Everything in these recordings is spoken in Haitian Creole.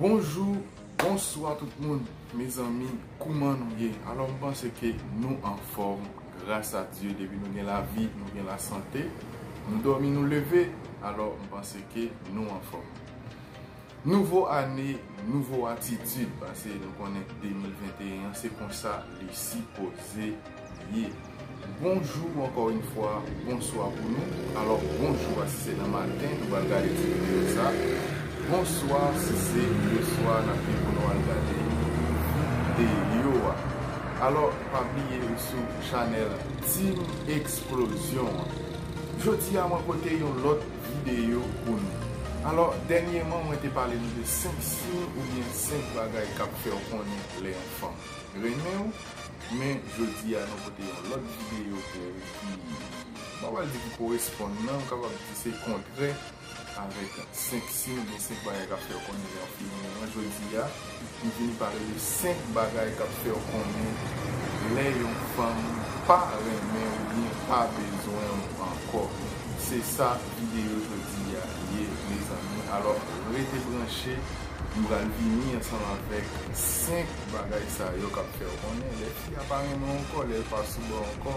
Bonjou, bonswa tout moun, mezanmi, kouman nou ye? Alò m panse ke nou anfòm, gras a Dye, depi nou gen lavi, nou gen lasante, nou dòmi nou leve, alò m panse ke nou anfòm. Nouvo ane, nouvo atitid pase nou konnen 2021 an se konsa li sipoze ye. Bonjou ankò yn fwa, bonswa pou nou. Alò bonjou a si se nan maten nou pral gade ti videyo sa. Bonswa si se leswa nap gen pou nou al gade videyo a. Alò pa bliye ou sou chanèl Team Explosion an. Jodi a mwen pote yon lòt videyo pou nou. Alò, dènyeman mwen te pale nou de 5 siy oubyen 5 bagay k ap fè w konnen lè yon fanm renmen w, men jodi a nou pote yon lòt videyo pou ou ki, m pa pral di ki koresponn nan, m kapab di se kontrè avèk 5 siy oubyen 5 bagay k ap fè w konnen lè yon fi renmen w an jodi a. M vin pale de 5 bagay kap fèw konnen lè yon fanm pa renmen ou byen pa bezwen w ankò se sa video jodi a ye mezanmi alò rete branche m pral vini ansanm avèk 5 bagay sa yo kap fèw konnen lè fi a pa renmen w ankò lèl pa sou baw ankò.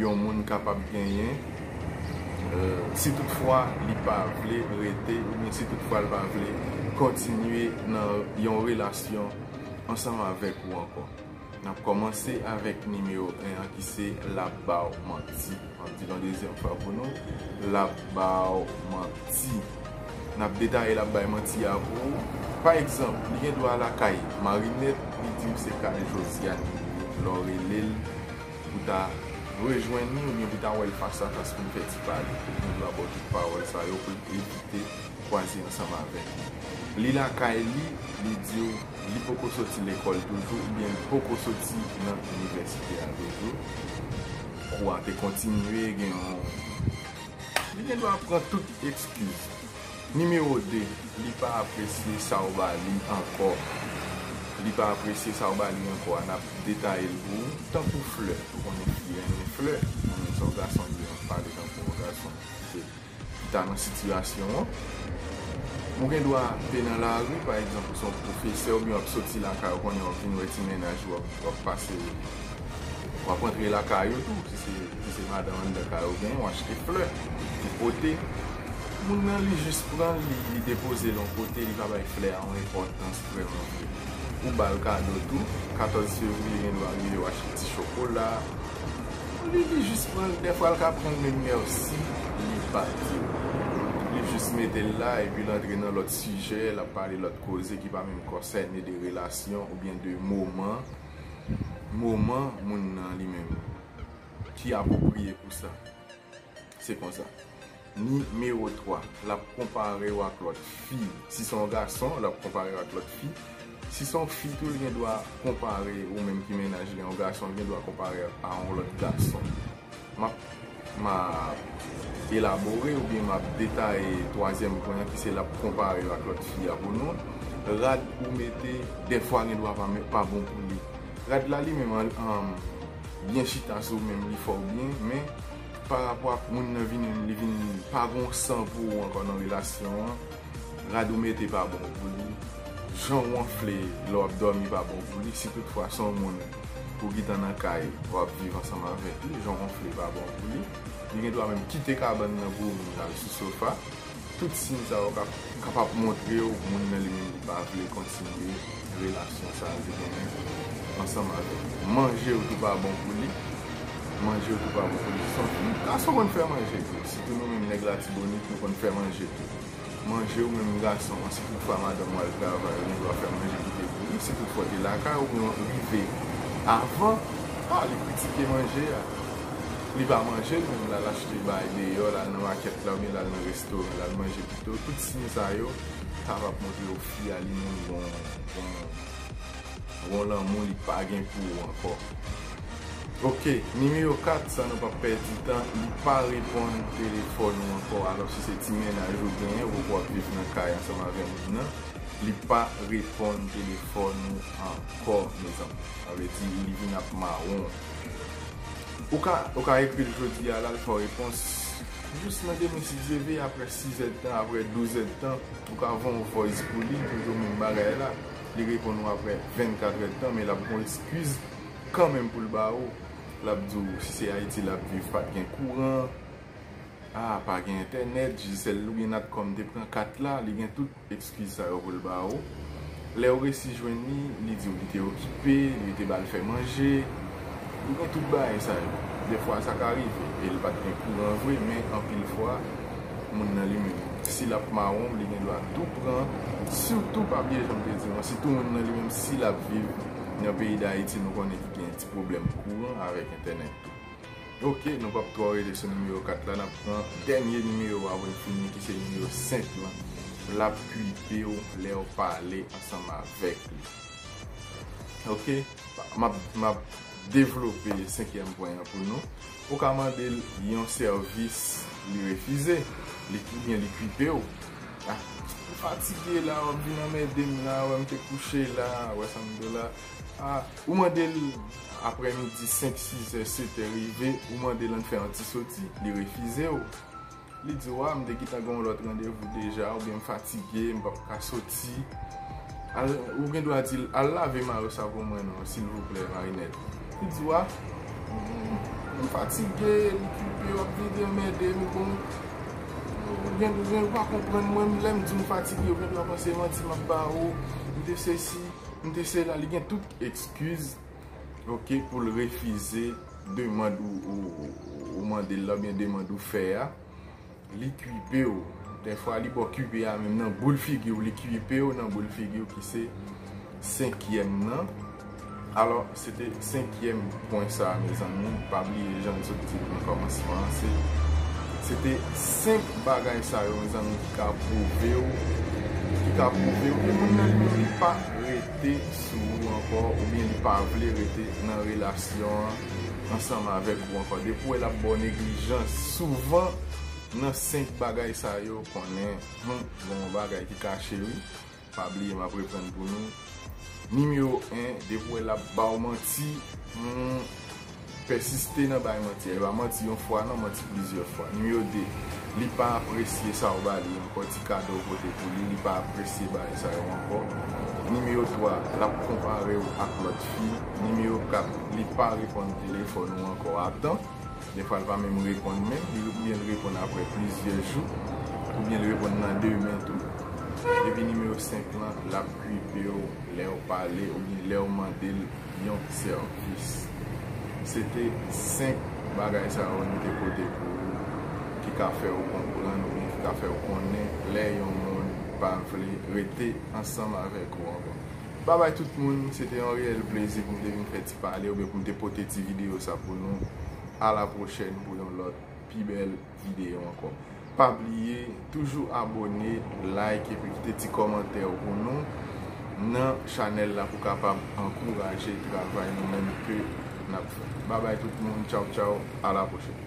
yon moun kapab genyen si tout fwa li pa vle rete oubyen si tout fwa li pa vle kontinye nan yon relasyon ansanm avèk ou ankò. Nap kòmanse avèk nimewo 1 an ki se lap baw manti. Map dil yon dezyèm fwa pou nou, lap baw manti. Nap detaye lap bay manti a pou ou. Pa egzanp, li gen dwa lakay Marinette, li diw se kay Josiane li ye lè w relel Pou ta rejwenn li oubyen pou ta wè l fas a fas pou n fè ti pale. Nou dwe abo tout pawòl sa yo pou n evite kwaze ansanm avèk li. Li lakay li, li di w li poko soti lekòl toujou oubyen li poko soti nan inivèsite a toujou. Kou a te kontinye gen yon. Li gen dwa ap pran tout ekskiz. Nimewo 2, Li pa apresye sa ou ba li ankò Li pa apresye sa ou ba li ankò a, n ap detaye l pou ou. Tankou flè, ou konnen fi renmen flè, li renmen sa yon gason di an, pale tankou yon gason ki ta nan sitiyasyon an. Ou gen dwa ape nan lari, pa egzanp ou se yon pwofesè oubyen w ap soti lakay ou konnen w ap vin wè ti mennaj ou, w ap pase, w ap antre lakay ou tou si se madanm anndan kay ou genyen, w achte flè pou pote. Moun nan li jis pran l li depoze l yon kote li pa bay flè a yon enpòtans vrèman vre. Ou ba l kado tou, 14 fevriye gen dwa rive w achte ti chokola pou li li jis pran l dèfwa l ka pran l menm mèsi li pa di w. Li jis mete l la epi l antre nan lòt sijè l ap pale lòt koze ki pa menm konsène de relasyon oubyen de moman moman moun nan li menm ki apwopriye pou sa. Se konsa. Nimewo 3, L ap konpare w ak lòt fi. Si se yon gason, l ap konpare w ak lòt fi. Si se yon fi tou, l gen dwa konpare ou menm ki mennaj li. Yon gason, l gen dwa konpare ak a yon lòt gason. M ap elabore oubyen m ap detaye twazyèm pwen an ki se l ap konpare w ak lòt fi a pou nou. Rad ou mete dèfwa gen dwa pa bon pou li. Rad la li menm an, byen chita sou ou menm, li fè w byen men. Pa rapò ak moun nan vini li vin pa gon san pou ou ankò nan relasyon an, rad ou mete pa bon pou li, jan ou anfle lè wap dòmi pa bon pou li, si tout fwa se yon moun ou gitan nan kay wap viv ansanm avèk li, jan ou anfle pa bon pou li, li gen dwa menm kite kabann nan pou ou vin lal sou sofa. Tout siy sa yo kapab montre w moun nan li menm li pa vle kontinye relasyon sa a li genyen ansanm avèk ou. Manje yo tou pa bon pou li, manje yo tou pa bon pou li. Gason konn fè manje tou, sitou nou menm nèg Latibonit nou konn fè manje tou. Manje ou menm gason an, si tout fwa madanm ou al travay ou gen dwa fè manje ki te pouri, si tout fwa ou te lakay ou oubyen ou rive avan, pale, kritike manje a. Li pa manje l menm, l al achte bay deyò, l al nan makèt la oubyen l al nan restoran l al manje pito. Tout siy sa yo ta va montre w fi a li mouri gon yon lanmou li pa gen pou ou ankò. Ok, nimewo 4, san nou pap pèdi tan, li pa reponn telefòn ou ankò alò si se ti mennaj ou genyen ou wap viv nan kay ansanm avè moun nan, li pa reponn telefòn ou ankò mezanmi. Sa vle di li vin ap mawon. Ou ka ou ka ekri l jodi a la l fè w repons jis nan demen si Dye veye aprè sizèdtan aprè douzèdtan ou ka voye yon voice pou li toujou menm bagay la li reponn ou aprè vennkatrèdtan men l ap gon eskiz kanmenm pou l ba ou l ap di w si se Ayiti l ap viv pa t gen kouran a pa gen entènèt Digicel ou gen natcom te pran kat la li gen tout. Ekskiz sa yo pou l ba ou. Lè ou resi jwenn li, li di ou li te okipe, li te ba l fè manje. Li gen tout bagay sa yo. Defwa sa ka rive e l pa t gen kouran vre men anpil fwa moun nan li menm si l ap mawon w li gen dwa tou pran sitou papye jan m te di w an sitou moun nan li menm si l ap viv nan peyi Dayiti nou konnen ki gen ti pwoblèm kouran avèk entènèt tou. Ok nou pap twò rete sou nimewo 4 la nap pran dènye nimewo a pou n fini ki se nimewo 5 lan lap kuipe w lè w pale ansanm avèk li ok map devlope 5 yèm pwen an pou nou ou ka mande l yon sèvis li refize ou byen li kuipe w ah m fatige la wap vin anmède m la wè m te kouche la wè sa m di w la. Ou mande l aprè midi 5, 6 è, 7 è rive, ou mande l ann fè yon ti soti, li refize w. Li di w a m te gentan gen yon lòt randevou deja oubyen m fatige, m pap ka soti. Ou gen dwa di l al lave mayo savon mwen non silvouplè Marinèt. Li di w a m fatige, l okipe, w ap vin di anmède m bon. Ou gen dwa, ou pa konprann mwen, lè m di w m fatige ou gen dwa panse manti m ap ba ou, m te sesi. M te sela li gen tout ekskiz ok poul refize demand ou mandel la oubyen demand ou fè a li kuipew dèfwa li baw kuipe a menm nan boul figiw li kuipew nan boul figiw ki se senkyèm nan alò Se te senkyèm pwen sa a mezanmi, pa bliye jan n sot di l nan kòmansman an, se se te senk bagay sa yo mezanmi ki ka pwouve w, ki ka pwouve w ke moun nan li menm li pa rete sou ou ankò oubyen li pa vle rete nan relasyon an ansanm avèk ou ankò. Depi w wè l ap ba w neglijans, souvan nan senk bagay sa yo konnen hum gen yon bagay ki kache wi. Pa bliye map reprann pou nou. Nimewo 1 depi ou wè lap baw manti humm pèsiste nan bay manti a. Li pa manti yon fwa non manti plizyè fwa. Nimewo 2 li pa apresye sa ou ba li ankò ti kado ou pote pou li li pa apresye bagay sa yo ankò. Nimewo 3 lap konparew ak lòt fi. Nimewo 4 li pa reponn telefòn ou ankò a tan. Defwa l pa menm reponn menm, oubyen l reponn aprè plizyè jou, oubyen l reponn nan demen tou. Epi nimewo 5 lan, l ap kwipe w lè w pale oubyen lè w mande l yon sèvis. Se te 5 bagay sa yo nou te pote pou ou ki ka fè ou konprann oubyen ki ka fè ou konnen lè yon moun pa vle rete ansanm avèk ou ankò. Babay tout moun, se te yon reyèl plezi pou m te vin fè ti. pale oubyen pou m te pote ti videyo sa pou nou. A la pwochèn pou yon lòt pi bèl videyo ankò. Pa bliye toujou abone, like epi kite ti kòmantè w pou nou nan chanèl la pou kapab ankouraje travay nou menm ke n ap fè. Babay tout moun, tchaw tchaw, a la pwochèn.